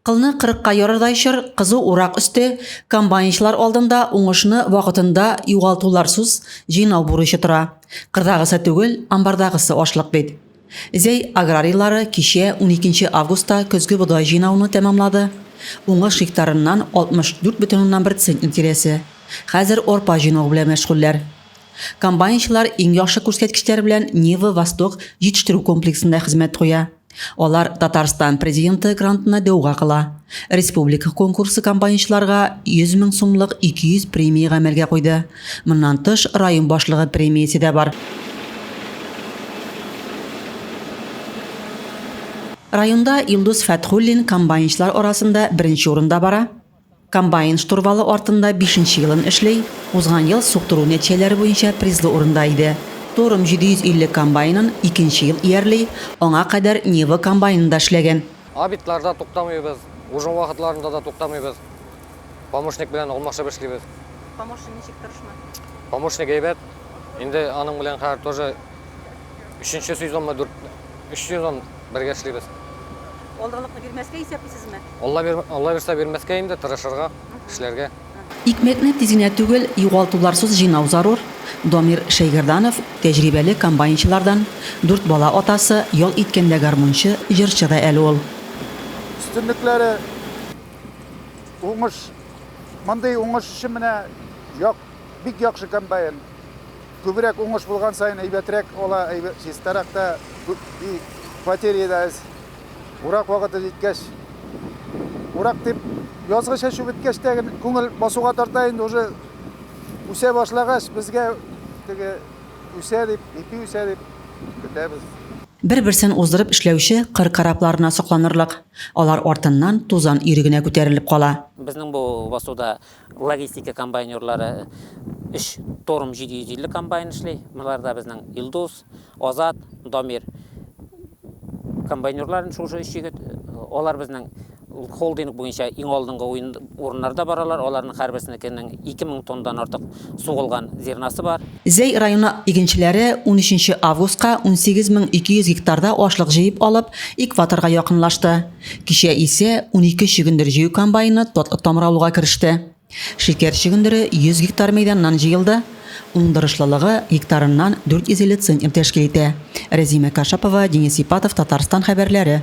Кылны кырыкка ярырдай чор, кызу урак өсте, комбайнчылар алдында уңышны вакытында югалтуларсуз җыйнау бурычы тора. Кырдагысы түгел, амбардагысы ашлык бит. Зәй аграрийлары кичә, 12 августта көзге бодай җыйнауны тәмамлады. Уңыш гектарыннан 64,1 центнер тирәсе. Хәзер арпа җыйнау белән мәшгульләр. Комбайнчылар иң яхшы күрсәткечләр белән Нива-Восток җитештерү комплексында хезмәт куя. Алар Татарстан Президенты грантына дәүга кыла. Республика конкурсы комбайнчыларга 100 мең сумлык 200 премия гамәлгә куйды. Моннан тыш, район башлыгы премиясе дә бар. Районда Илдус Фәтхуллин комбайнчылар арасында беренче урында бара. Комбайн штурвалы артында бишенче елын эшли, узган ел суктыру нәтиҗәләре буенча призлы урында иде. Торм 750 комбайнын икенче ел иярли, аңа кадәр Нива комбайнында эшләгән. Обедьларда туктамыйбыз, ужин вакытларында да туктамыйбыз. Помощник белән алмашып эшлибез. Помощник ничек, тырышмы? Помощник әйбәт. Инде аның белән хәзер тоже Өченче сезонны дүрт, өч сезон бергә эшлибез. Алданлыкны бирмәскә исәплисезме? Алла бир, Алла бирсә бирмәскә инде, тырышырга, эшләргә. Икмәкне тиз генә түгел, югалтуларсыз җыйнау зарур. Дамир Шәйгәрданов, тәҗрибәле комбайнчылардан, дүрт бала атасы, ял иткәндә гармунчы, җырчы да әле ул. Өстенлекләре, уңыш, мондый уңыш өчен менә як, бик яхшы комбайн. Күбрәк уңыш булган саен әйбәтрәк ала, чистарак та, и батерея да әз. Урак вакыты җиткәч, урак дип, язгы чәчү беткәч тә генә күңел басуга тарта инде, уже үсә башлагач, безгә теге үсә дип, ипи үсә дип көтәбез. Бер-берсен уздырып эшләүче кыр корабларына сокланырлык, алар артыннан тузан өере генә күтәрелеп кала. Безнең бу басуда Логистика комбайнерлары өч Торм 750 комбайны эшли. Боларда безнең Илдус, Азат, Дамир комбайнерлар шушы өч егет. Алар безнең холдинг буенча иң алдынгы урыннарда баралар. Аларның һәрберсенекенең 2000 тоннадан артык сугылган зернасы бар. Зәй районы игенчеләре унөченче августка 18200 гектарда ашлык җыеп алып, экваторга якынлашты. Кичә исә унике чөгендер җыю комбайны тот-томралуга кереште. Шикәр чөгендере 100 гектар мәйданнан җыелды, уңдырышлылыгы гектарыннан 450 центнер тәшкил итә. Рәзимә Кашапова, Денис Ипатов, Татарстан хәбәрләре.